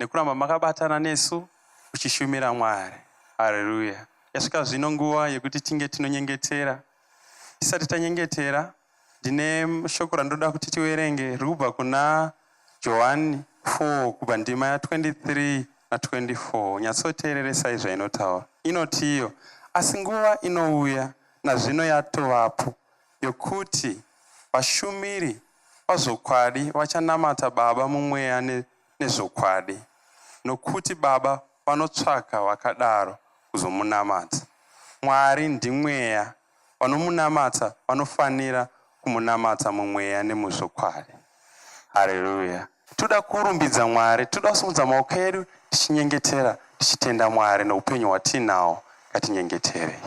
nekuramba makabatana nesu uchishumira Mwari. Haleluya. Yasvika zvino nguva yekuti tinge tinonyengetera. Tisati tanyengetera, ndine shoko randoda kuti tiverenge riri kubva kuna Johani 4 kubva ndima ya 23 na 24. Nyatsoteereresai zvainotaura. Inoti iyo, asi nguva inouya nazvino yatovapo yokuti vashumiri pazvokwadi vachanamata Baba mumweya ne, nezvokwadi, nokuti Baba vanotsvaka vakadaro kuzomunamata. Mwari ndimweya, vanomunamata vanofanira kumunamata mumweya nemuzvokwadi. Hareruya! Toda kurumbidza Mwari, toda kusimudza maoko edu tichinyengetera, tichitenda Mwari neupenyu hwatiinawo. Ngatinyengeterei.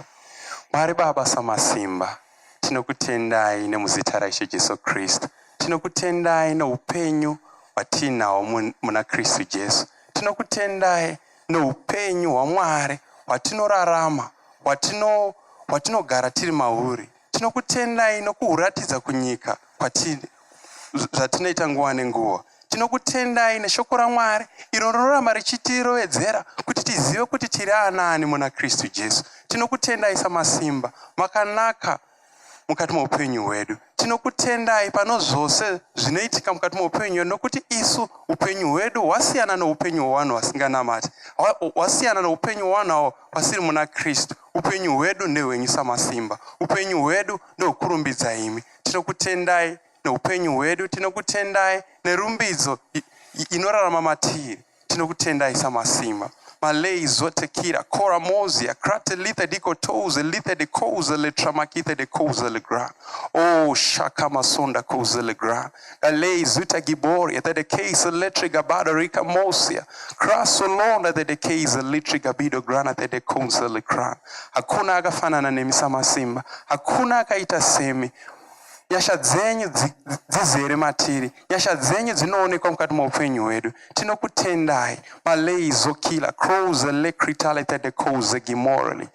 Mwari Baba Samasimba, tinokutendai nemuzita raIshe Jesu Kristu. Tinokutendai neupenyu hwatiinawo muna Kristu Jesu. Tinokutendai neupenyu hwaMwari hwatinorarama, hwatinogara tiri mauri. Tinokutendai nokuhuratidza kunyika kwatiri zvatinoita nguva nenguva. Tinokutendai neshoko raMwari iro rinoramba richitirovedzera kuti tizive kuti tiri anaani muna Kristu Jesu. Tinokutendai samasimba makanaka mukati meupenyu hwedu. Tinokutendai pano zvose zvinoitika mukati meupenyu hwedu nokuti isu upenyu hwedu hwasiyana noupenyu hwevanhu vasinganamati, hwasiyana noupenyu hwevanhu avo vasiri muna Kristu. Upenyu hwedu ndehwenyu Samasimba. Upenyu hwedu ndokurumbidza imi. Tinokutendai neupenyu hwedu, tinokutendai nerumbidzo inorarama matiri. Tinokutendai Samasimba. Malay Zotekira, Kora Mozia, Krate Lithe de Kotouze, Lithe de Kouze, Letramakithe de Kouze Legra. Oh, Shaka Masonda Kouze Legra. Alei zuta giboria that the case electric abada rika mosia crasso londa that the case electric abido grana that the council cran hakuna akafanana nemi samasimba hakuna akaita semi nyasha dzenyu dzizere matiri nyasha dzenyu dzinoonekwa mukati meupenyu hwedu tinokutendai malei zokila crows elecritalitedecosegimorally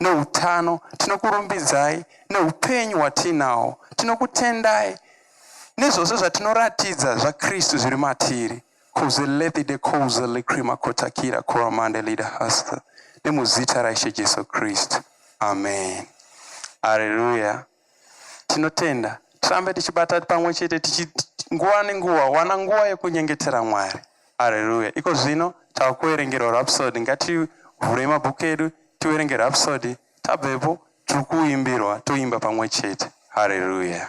noutano. Tinokurumbidzai noupenyu hwatiinawo. Tinokutendai nezvose zvatinoratidza zvaKristu zviri matiri. Kuzelethi de kouzeli krima kotakira koramande lida hasta. Nemuzita raIshe Jesu Kristu. Amen. Hallelujah. Tinotenda. Tirambe tichibata pamwe chete tichi nguva nenguva wana nguva yekunyengetera Mwari. Haleluya. Iko zvino tava kuverengerwa Rhapsody. Ngativhurei mabhuku edu tiverenge Rhapsody. Tabvepo tiri kuimbirwa toimba pamwe chete. Haleluya.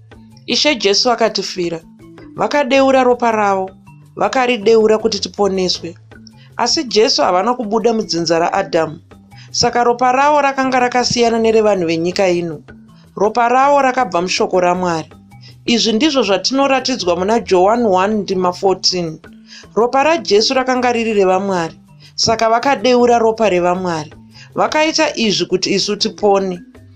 Ishe Jesu vakatifira, vakadeura ropa ravo, vakarideura kuti tiponeswe. Asi Jesu havana kubuda mudzinza raAdhamu, saka ropa ravo rakanga rakasiyana nerevanhu venyika ino. Ropa ravo rakabva mushoko raMwari. Izvi ndizvo zvatinoratidzwa muna Johani 1 ndima 14. Ropa raJesu rakanga riri revaMwari, saka vakadeura ropa revaMwari. Vakaita izvi kuti isu tipone.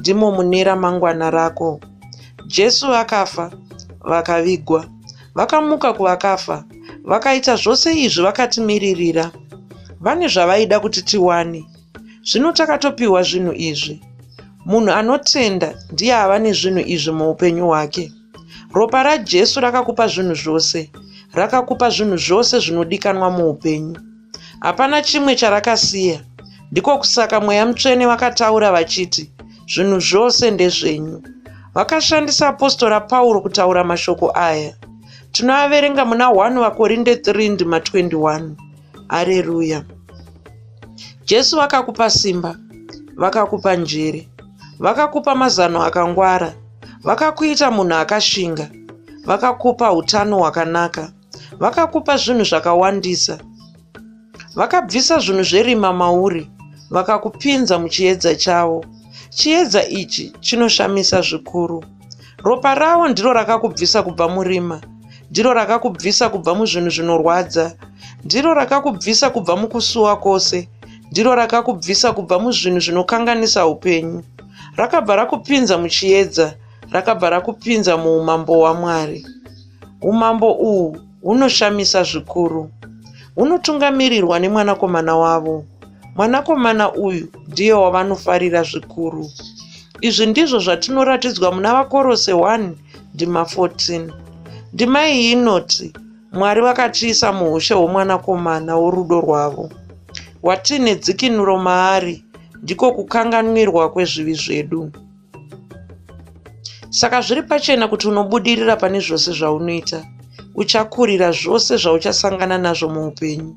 ndimo mune ramangwana rako. Jesu vakafa, vakavigwa, vakamuka kuvakafa, vakaita zvose izvi vakatimiririra. Vane zvavaida kuti tiwane. Zvino takatopiwa zvinhu izvi. Munhu anotenda ndiye ava nezvinhu izvi muupenyu hwake. Ropa raJesu rakakupa zvinhu zvose, rakakupa zvinhu zvose zvinodikanwa muupenyu. hapana chimwe charakasiya ndiko kusaka mweya mutsvene vakataura vachiti zvinhu zvose ndezvenyu vakashandisa apostora pauro kutaura mashoko aya tinoaverenga muna 1 vakorinde 3 ndima 21 areruya jesu vakakupa simba vakakupa njere vakakupa mazano akangwara vakakuita munhu akashinga vakakupa utano hwakanaka vakakupa zvinhu zvakawandisa vakabvisa zvinhu zverima mauri vakakupinza muchiedza chavo chiedza ichi chinoshamisa zvikuru ropa ravo ndiro rakakubvisa kubva murima ndiro rakakubvisa kubva muzvinhu zvinorwadza ndiro rakakubvisa kubva mukusuwa kwose ndiro rakakubvisa kubva muzvinhu zvinokanganisa upenyu rakabva rakupinza muchiedza rakabva rakupinza muumambo hwamwari Umambo uhu hunoshamisa zvikuru. Hunotungamirirwa nemwanakomana wavo. Mwanakomana uyu ndiye wavanofarira zvikuru. Izvi ndizvo zvatinoratidzwa muna Vakorose 1 ndima 14. Ndima iyi inoti, Mwari vakatiisa muushe hwomwanakomana worudo rwavo. Watiine dzikinuro maari ndiko kukanganwirwa kwezvivi zvedu. Saka zviri pachena kuti unobudirira pane zvose zvaunoita. Uchakurira zvose zvauchasangana nazvo muupenyu.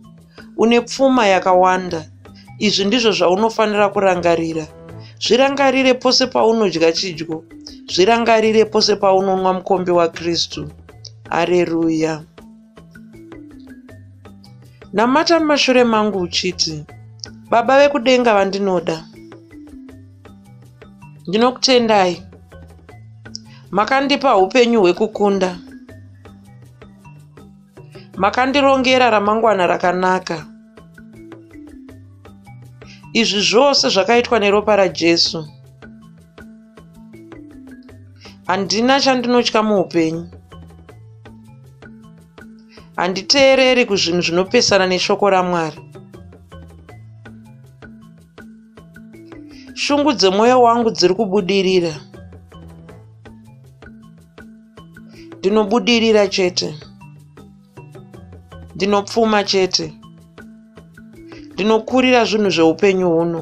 Une pfuma yakawanda. Izvi ndizvo zvaunofanira kurangarira. Zvirangarire pose paunodya chidyo. Zvirangarire pose paunonwa mukombe waKristu. Areruya. Namata mumashure mangu uchiti, Baba vekudenga vandinoda. Ndinokutendai. Makandipa upenyu hwekukunda. Makandirongera ramangwana rakanaka. Izvi zvose zvakaitwa neropa raJesu. handina chandinotya muupenyu handiteereri kuzvinhu zvinopesana neshoko ramwari shungu dzemwoyo wangu dziri kubudirira ndinobudirira chete ndinopfuma chete ndinokurira zvinhu zveupenyu huno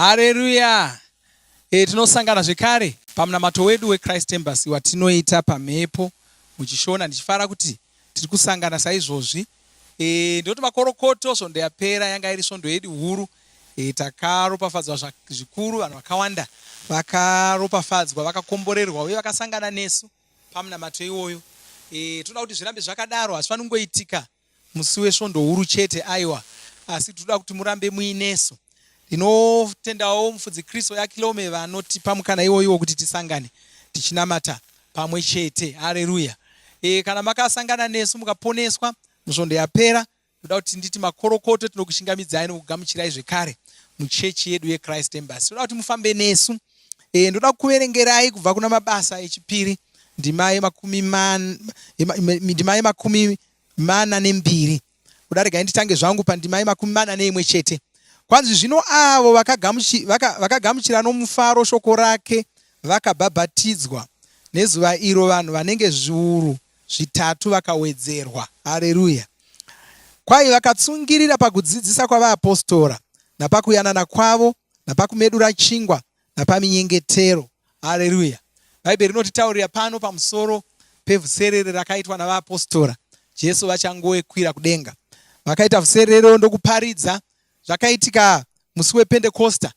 Hareruya! E, tinosangana zvekare pamunamato wedu weChrist Embassy watinoita pamhepo muchishona. Ndichifara kuti tiri kusangana saizvozvi. E, ndinoti makorokoto svondo yapera yanga iri svondo yedu huru. E, takaropafadzwa zvikuru, vanhu vakawanda vakaropafadzwa, vakakomborerwa uye vakasangana nesu pamunamato iwoyo. E, toda kuti zvirambe zvakadaro, hazvifaniri kungoitika Musi wesvondo huru chete aiwa asi tinoda kuti murambe muinesu. Ndinotendawo mufudzi Kristo yaKilome vanotipa mukana iwoyiwo kuti tisangane tichinamata pamwe chete. Haleluya. E, kana makasangana nesu mukaponeswa musvondo yapera ndoda kuti nditi makorokoto tinokushingamidzai nokugamuchirai zvekare muchechi yedu yechrist embasy toda kuti mufambe nesu e, ndoda kuverengerai kubva kuna mabasa echipiri ndima yemakumi mana nembiri kudarega nditange zvangu pandima yemakumi mana neimwe chete kwanzi zvino avo vakagamuchira nomufaro shoko rake vakabhabhatidzwa nezuva iro vanhu vanenge zviuru zvitatu vakawedzerwa hareruya kwai vakatsungirira pakudzidzisa kwavaapostora napakuyanana kwavo napakumedura chingwa napaminyengetero. Hareruya! Bhaibheri rinotitaurira pano pamusoro pevuserere rakaitwa navaapostora Jesu vachangoekwira kudenga. Vakaita vuserero ndokuparidza zvakaitika musi wepentekosta.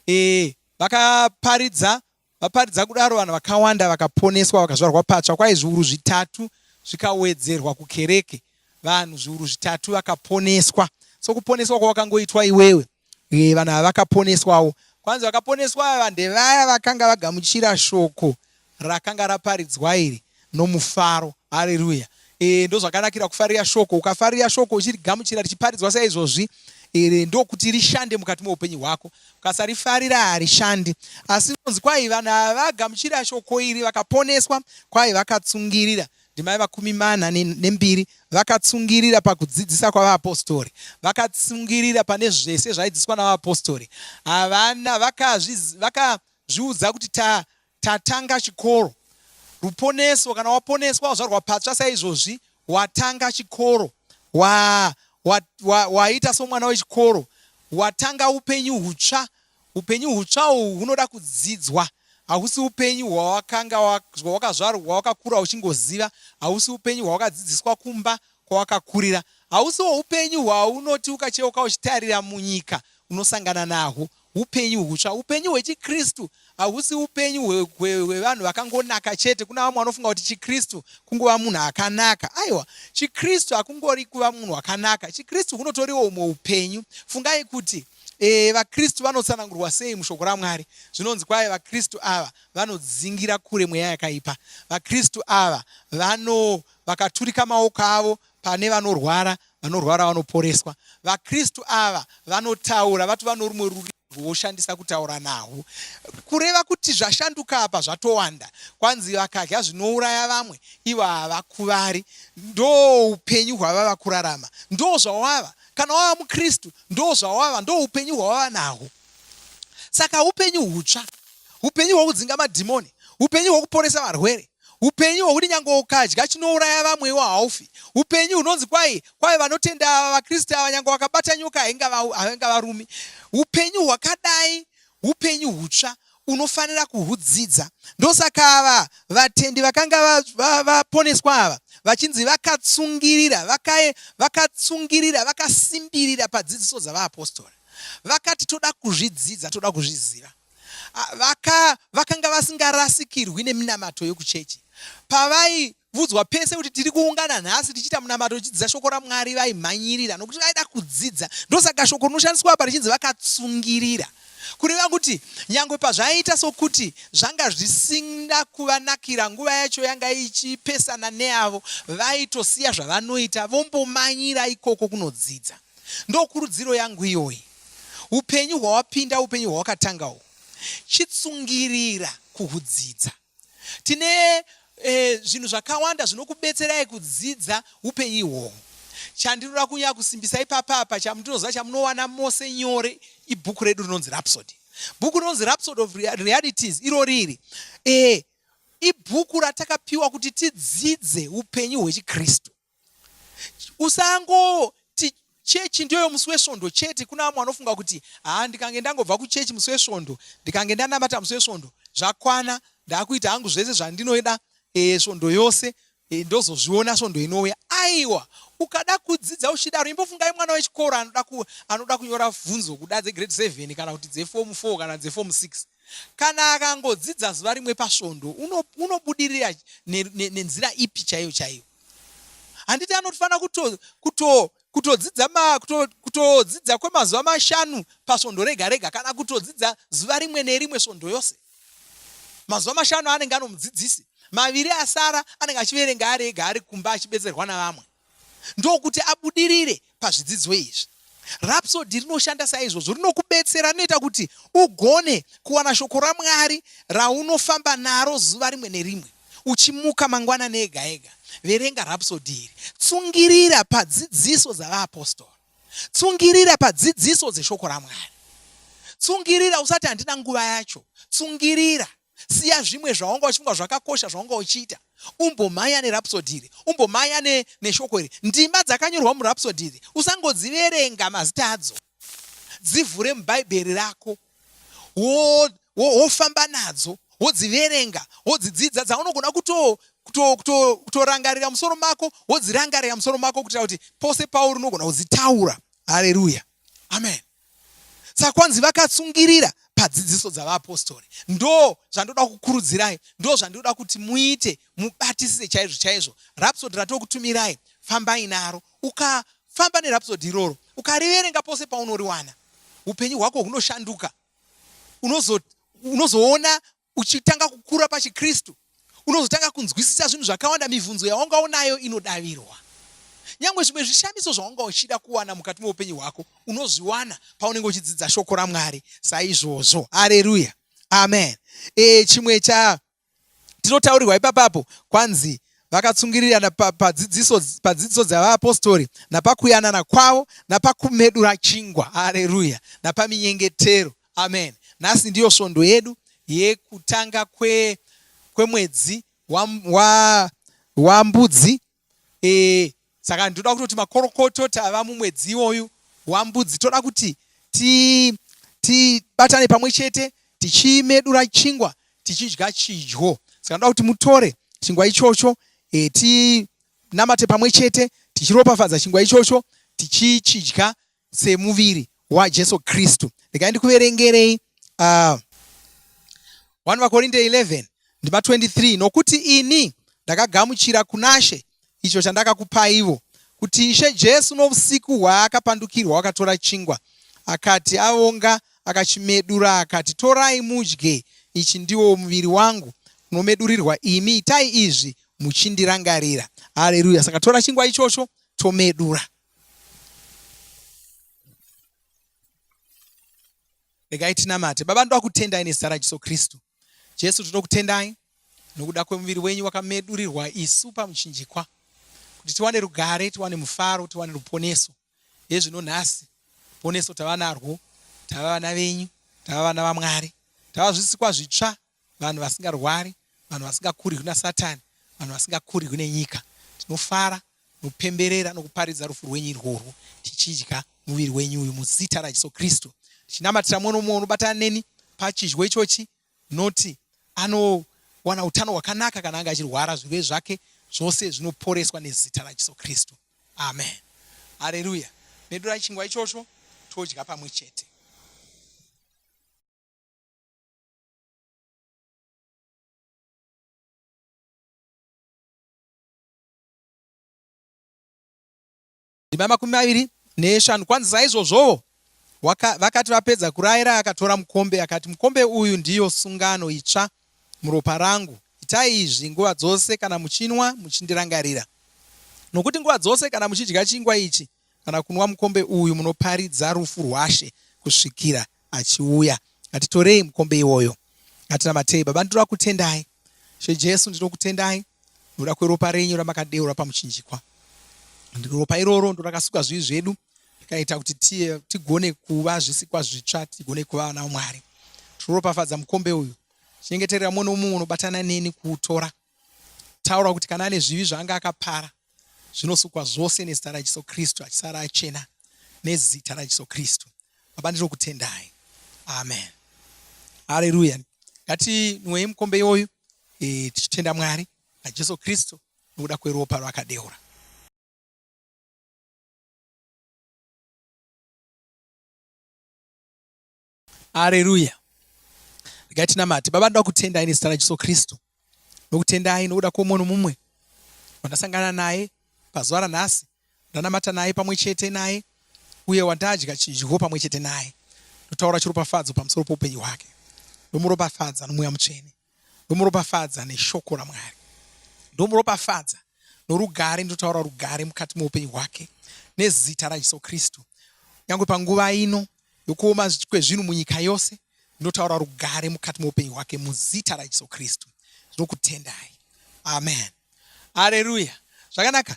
E, vakaparidza vaparidza kudaro vanhu vakawanda vakaponeswa vakazvarwa patsva kwai zviuru zvitatu zvikawedzerwa kukereke vanhu zviuru zvitatu vakaponeswa so kuponeswa kwawakangoitwa iwewe Uye vanhu ava vakaponeswawo. Kwanzi vakaponeswa ava ndevaya vakanga vagamuchira shoko rakanga raparidzwa iri nomufaro. Hareruya. E, ndozvakanakira kufarira shoko. Ukafarira shoko uchirigamuchira richiparidzwa saizvozvi iri ndokuti rishande mukati meupenyu hwako ukasarifarira harishandi asi nonzi kwai vanhu ava vagamuchira shoko iri vakaponeswa kwai vakatsungirira ndimai vakumi mana nembiri vakatsungirira pakudzidzisa kwavaapostori vakatsungirira pane zvese zvaidzidziswa navaapostori havana vakazviudza kuti tatanga chikoro ruponeso kana waponeswa wazvarwa patsva saizvozvi watanga chikoro waita somwana wechikoro watanga upenyu hutsva Upenyu hutsva uhu hunoda kudzidzwa. Hausi upenyu hwawakanga hwawakazvarwa hwawakakura uchingoziva. Hausi upenyu hwawakadzidziswa kumba kwawakakurira. Hausiwo upenyu hwaunoti ukacheuka uchitarira munyika unosangana nahwo. Upenyu hutsva, upenyu hwechiKristu hausi upenyu hwevanhu vakangonaka chete. Kuna vamwe vanofunga kuti chiKristu kungova munhu akanaka. Aiwa, chiKristu hakungori kuva munhu wakanaka. ChiKristu kunotoriwo umwe upenyu. Fungai kuti E, vaKristu vanotsanangurwa sei mushoko raMwari? Zvinonzi kwaye vaKristu ava vanodzingira kure mweya yakaipa. VaKristu ava vano vakaturika maoko avo pane vanorwara, vanorwara vanoporeswa. VaKristu ava vanotaura, vati vano rumwe rurimi rwoshandisa kutaura nahwo. Kureva kuti zvashanduka apa zvatowanda. Kwanzi vakadya zvinouraya vamwe, ivo havakuvari. Ndo upenyu hwavava kurarama, ndo zvawava kana wava mukristu ndo zvawava ndo upenyu hwawava nahwo saka upenyu hutsva upenyu hwokudzinga madhimoni upenyu hwokuporesa varwere upenyu hwokuti nyange ukadya chinouraya vamwewo haufi upenyu hunonzi kwai kwai vanotenda ava vakristu ava nyange wakabata nyoka hainga varumi upenyu hwakadai upenyu hutsva unofanira kuhudzidza. Ndosaka ava vatendi vakanga vaponeswa va, va ava vachinzi vakatsungirira vakae, vakatsungirira vakasimbirira padzidziso dzavaapostora vakati toda kuzvidzidza toda kuzviziva vaka, vakanga vasingarasikirwi neminamato yokuchechi pavai vudzwa pese kuti tiri kuungana nhasi tichiita munamato tichidzidza shoko ramwari vaimhanyirira nokuti vaida kudzidza ndosaka shoko rinoshandiswa apa richinzi vakatsungirira kureva kuti nyangwe pazvaiita sokuti zvanga zvisina kuvanakira nguva yacho yanga ichipesana neavo vaitosiya zvavanoita vombomanyira ikoko kunodzidza ndokurudziro yangu iyoyi upenyu hwawapinda upenyu hwawakatanga uhu chitsungirira kuhudzidza tine e, zvinhu zvakawanda zvinokubetserai kudzidza upenyu ihwohwo chandinoda kunyaya kusimbisa ipapapa chamutinoziva chamunowana mose nyore ibhuku redu rinonzi rapsody bhuku rinonzi rapsody of realities iro riri e, ibhuku ratakapiwa kuti tidzidze upenyu hwechikristu usangoti chechi ndiyoyo musi wesvondo chete kuna vamwe vanofunga kuti haa ndikange ndangobva kuchechi musi wesvondo ndikange ndanamata musi wesvondo zvakwana ndakuita hangu zvese zvandinoida eh, svondo yose eh, ndozozviona svondo inouya aiwa ukada kudzidza uchidaro imbofungai mwana wechikoro anoda kunyora bvunzo kuda dzegrade 7 kana kuti dzefomu 4 kana dzefomu 6 kana akangodzidza zuva rimwe pasvondo unobudirira nenzira ipi chaiyo chaiyo handiti anofanira kutodzidza kutodzidza kwemazuva mashanu pasvondo rega rega kana kutodzidza zuva rimwe nerimwe svondo yose mazuva mashanu anenge anomudzidzisi maviri asara anenge achiverenga ari ega ari kumba achibetserwa navamwe ndokuti abudirire pazvidzidzo izvi. Rhapsody rinoshanda saizvozvo, rinokubetsera, rinoita kuti ugone kuwana shoko raMwari raunofamba naro zuva rimwe nerimwe. Uchimuka mangwanani ega ega, verenga Rhapsody iri. Tsungirira padzidziso dzavaapostora. Tsungirira padzidziso dzeshoko raMwari. Tsungirira usati handina nguva yacho. Tsungirira. siya zvimwe zvawanga uchifunga zvakakosha zvawanga uchiita umbomhanya nerapsodi iri umbomhanya neshoko iri ndima dzakanyorwa murapsodi iri usangodziverenga mazita adzo dzivhure mubhaibheri rako wofamba wo, wo, nadzo wodziverenga wodzidzidza dzaunogona kuto kutorangarira musoro mako wodzirangarira musoro mako kuitira kuti pose pauri unogona kudzitaura hareruya amen saka kwanzi vakatsungirira padzidziso dzavaapostori ndo zvandoda kukurudzirai ndo zvandoda kuti muite mubatisise chaizvo chaizvo rapsodi ratokutumirai fambai naro ukafamba nerapsodi iroro ukariverenga pose paunoriwana upenyu hwako hunoshanduka unozoona Uchitanga kukura pachiKristu, unozotanga kunzwisisa zvinhu zvakawanda. Mibvunzo yawanga unayo inodavirwa. Nyangwe zvimwe zvishamiso zvawanga uchida kuwana mukati meupenyu hwako unozviwana paunenge uchidzidza shoko raMwari saizvozvo. Hareruya, amen. E, chimwe cha tinotaurirwa ipapapo kwanzi vakatsungirirana padzidziso pa pa dzavaapostori napakuyanana kwavo napakumedura chingwa. Hareruya, napaminyengetero. Amen. Nhasi ndiyo svondo yedu yekutanga kwe, kwemwedzi wambudzi wa, wa e, saka ndoda kutoti makorokoto tava mumwedzi iwoyu wambudzi toda kuti tibatane ti, pamwe chete tichimedura chingwa tichidya chidyo saka ndoda kuti mutore chingwa ichocho e, tinamate pamwe chete tichiropafadza chingwa ichocho tichichidya semuviri waJesu Kristu. Regai ndikuverengerei uh, 1 vakorinde 11 ndima 23 nokuti ini ndakagamuchira kunashe icho chandakakupaivo kuti ishe jesu nousiku hwaakapandukirwa wakatora chingwa akati avonga akachimedura akati torai mudye ichi ndiwo muviri wangu unomedurirwa imi itai izvi muchindirangarira hareruya saka tora chingwa ichocho tomedura regai tinamate baba ndoda kutendai nezita rajesu kristu jesu tinokutendai nokuda kwemuviri wenyu wakamedurirwa isu pamuchinjikwa kuti tiwane rugare tiwane mufaro tiwane ruponeso yezvino nhasi poneso tava narwo tava vana venyu tava vana vamwari tava zvisikwa zvitsva vanhu vasingarwari, vanhu vasingakurirwi naSatani, vanhu vasingakurirwi nenyika. Tinofara nokupemberera nokuparidza rufu rwenyu irworwo, tichidya muviri wenyu uyu muzita raJesu Kristu, tichinamatira mumwe nomumwe unobatana neni pachidyo ichochi, noti anowana utano hwakanaka kana anga achirwara, zvirwere zvake zvose zvinoporeswa nezita raJesu Kristu. Amen. Haleluya. Medurai chingwa ichocho todya pamwe chete. ndima makumi maviri neshanu kwanzi saizvozvowo vakati vapedza kurayira akatora mukombe akati mukombe uyu ndiyo sungano itsva muropa rangu itai izvi nguva dzose kana muchinwa muchindirangarira nokuti nguva dzose kana muchidya chingwa ichi kana kunwa mukombe uyu munoparidza rufu rwaShe kusvikira achiuya. Ngatitorei mukombe iwoyo. Ngatinamatei. Baba, ndinoda kutendai. She Jesu, ndinokutendai nokuda kweropa renyu ramakadeura pamuchinjikwa. Ropa iroro ndorakasuka zvivi zvedu rikaita kuti tiye tigone kuva zvisikwa zvitsva, tigone kuva vana vaMwari. Tinoropafadza mukombe uyu. Chengeterera mumwe nomumwe unobatana neni kuutora. taura kuti kana ane zvivi zvaanga akapara zvinosukwa zvose nezita rajesu kristu achisara achena nezita rajesu kristu baba ndinokutendai amen hareruya ngatinwei mukombe iwoyu e, tichitenda mwari najesu kristu nokuda kweropa rwakadeura Haleluya. Regai tinamate. Baba, ndoda kutenda ini zita raJesu Kristu. Ndokutendai nokuda kwoumwe nomumwe wandasangana naye pazuva ranhasi, ndanamata naye pamwe chete naye, uye wandadya chidyo pamwe chete naye. Ndotaura chiropafadzo pamusoro poupenyu hwake. Ndomuropafadza nomweya mutsvene. ndomuropafadza neshoko ramwari ndomuropafadza norugare ndotaura rugare mukati meupenyu hwake nezita rajesu kristu nyange panguva ino yokuoma kwezvinhu munyika yose ndotaura rugare mukati meupenyu hwake muzita rajesu kristu ndinokutendai amen aleluya zvakanaka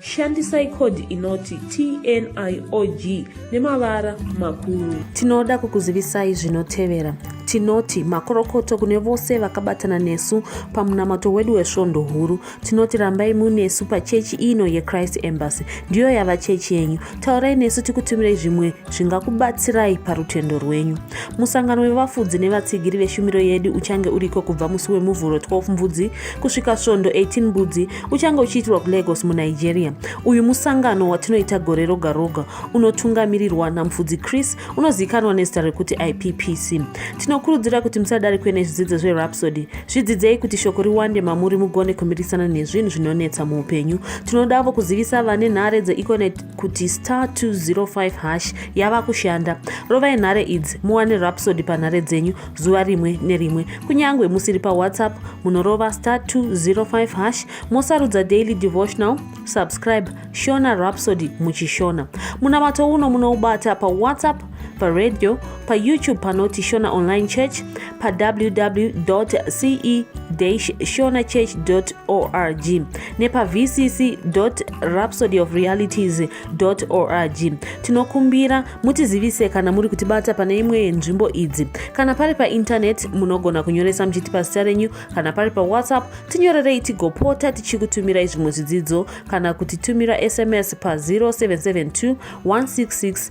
Shandisai code inoti TNIOG nemavara makuru. Tinoda kukuzivisai zvinotevera. Tinoti makorokoto kune vose vakabatana nesu pamunamato wedu wesvondo huru. Tinoti rambai munesu pachechi ino yeChrist Embassy. Ndiyo yava chechi yenyu. taurai nesu tikutumirai zvimwe zvingakubatsirai parutendo rwenyu musangano wevafudzi nevatsigiri veshumiro yedu uchange uriko kubva musi wemuvhuro 12 mbudzi kusvika svondo 18 mbudzi uchange uchiitirwa kulagos munigeria uyu musangano watinoita gore roga roga unotungamirirwa namufudzi chris unozivikanwa nezita rekuti ippc tinokurudzira kuti musadarikwe nezvidzidzo zverapsody Zvidzidzei kuti shoko riwande mamuri mugone kumirisana nezvinhu zvinonetsa muupenyu. Tinodavo kuzivisa vane nhare dzeEconet kuti star 205 hash yava kushanda. Rovai nhare idzi muwane rapsody panhare dzenyu zuva rimwe nerimwe. Kunyangwe musiri paWhatsApp munorova star 205 hash mosarudza daily devotional subscribe shona rapsody muchishona. Munamato uno munoubata paWhatsApp paredyo payoutube panoti shona online church pawww ce shona church org nepavcc rhapsody of realities org tinokumbira mutizivise kana muri kutibata pane imwe yenzvimbo idzi kana pari paintaneti munogona kunyoresa muchiti pazita renyu kana pari pawhatsapp tinyorerei tigopota tichikutumirai zvimwe zvidzidzo kana kutitumira sms pa 0772 166